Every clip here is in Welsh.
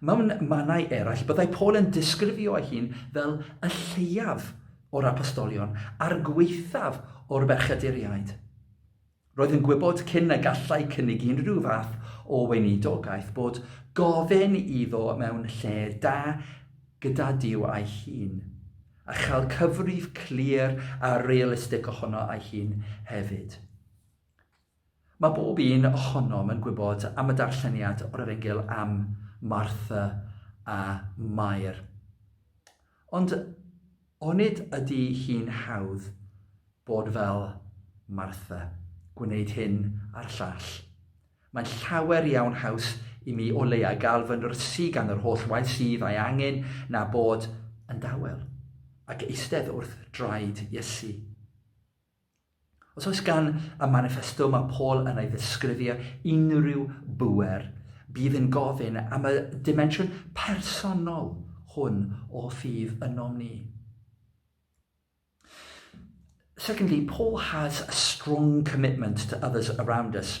Mewn mannau eraill, byddai Paul yn disgrifio ei hun fel y lleiaf o'r apostolion a'r gwaethaf o'r berchyduriaid. Roedd yn gwybod cyn y gallai cynnig unrhyw fath o weinidogaeth bod gofyn iddo mewn lle da gyda Duw a'i hun, a chael cyfrif clir a realistig ohono ei hun hefyd. Mae bob un ohonom yn gwybod am y darlleniad o'r Efengyl am Martha a Mair. Ond onid ydy hi'n hawdd bod fel Martha, gwneud hyn a'r llall? Mae'n llawer iawn haws i mi o leiaf gael fy nyrsî gan yr holl waith sydd a'i angen na bod yn dawel ac eistedd wrth draed Iesu. Os oes gan y maniffesto mae Paul yn ei ddisgrifio unrhyw bŵer, bydd yn gofyn am y dimensiwn personol hwn o ffydd ynom ni. Secondly, Paul has a strong commitment to others around us.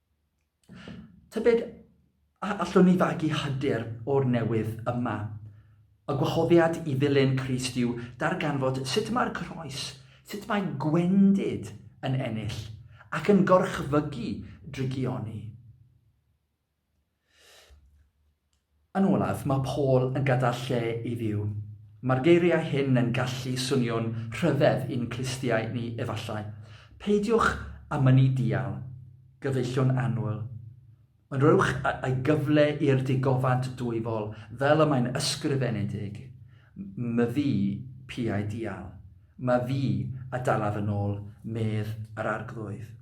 Tybed a allwn ni fagu hyder o'r newydd yma? Y gwahoddiad i ddilyn Crist yw darganfod sut mae'r croes, sut mae gwendid yn ennill ac yn gorchfygu drygioni. Yn olaf, mae Paul yn gadael lle i Dduw. Mae'r geiriau hyn yn gallu swnio'n rhyfedd i'n clustiau ni efallai, Peidiwch â mynnu dial, gyfeillion annwyl, ond rhowch y gyfle i'r digofant dwyfol, fel y mae'n ysgrifenedig, Myfi piau dial, mae fi a dalaf yn ôl, medd yr Arglwydd.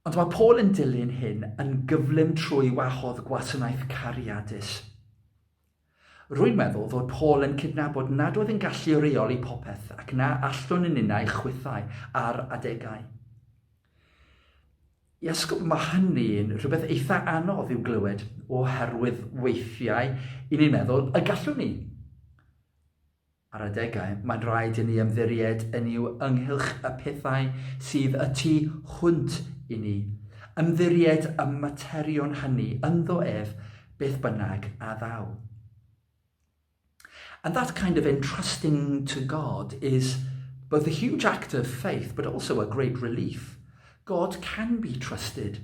Ond mae Paul yn dilyn hyn yn gyflym trwy wahodd gwasanaeth cariadus. Rwy'n meddwl fod Paul yn cydnabod nad oedd yn gallu reoli popeth ac na allwn yn ninnau chwithau ar adegau. I asgwrn mae hynny'n rhywbeth eitha anodd i'w glywed oherwydd weithiau i ni'n meddwl y gallwn ni. Ar adegau, mae'n rhaid i ni ymddiried yn Nuw ynghylch y pethau sydd y tu hwnt i ni, ymddiried y materion hynny ynddo ef beth bynnag a ddaw. And that kind of entrusting to God is both a huge act of faith but also a great relief. God can be trusted.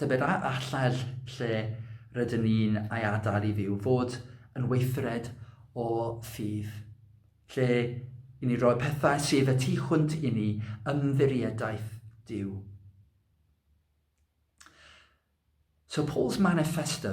Tybed a allai'r lle rydyn ni'n ei adael i Dduw fod yn weithred o ffydd, lle i ni roi pethau sydd y tu hwnt i ni ymddirieddaeth Duw. So Paul's manifesto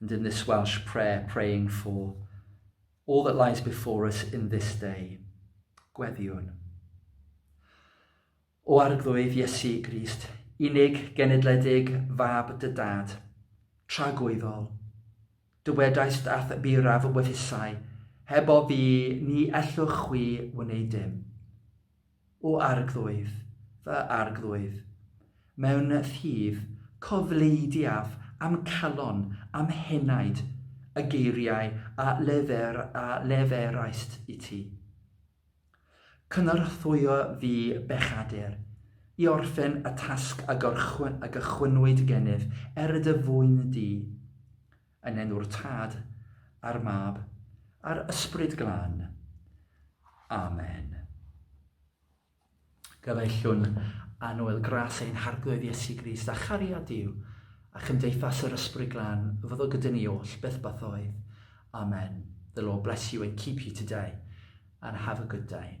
And in this Welsh prayer, praying for all that lies before us in this day, gweddiwn. O arglwydd Iesu Grist, unig genedledig fab dy dad, tragwyddol, dywedaist ath biraf wythusau, heb o fi ni ellwch chwi wneud dim. O Arglwydd, fy Arglwydd, mewn rhif, cofleidiaf a'm calon, a'm henaid, y geiriau a lefer a leferaist i ti. Cynorthwyo fi bechadur, i orffen y tasg a gychwynnwyd gennyf, er dy fwyn di. Yn enw'r Tad, a'r Mab, a'r Ysbryd Glân. Amen. Gyfeillwn a noel gras ein harglwydd Iesu Grist a chariad Dyw a chymdeithas yr Ysbryd Glân fyddo gyda ni oll beth beth oedd. Amen. The Lord bless you and keep you today and have a good day.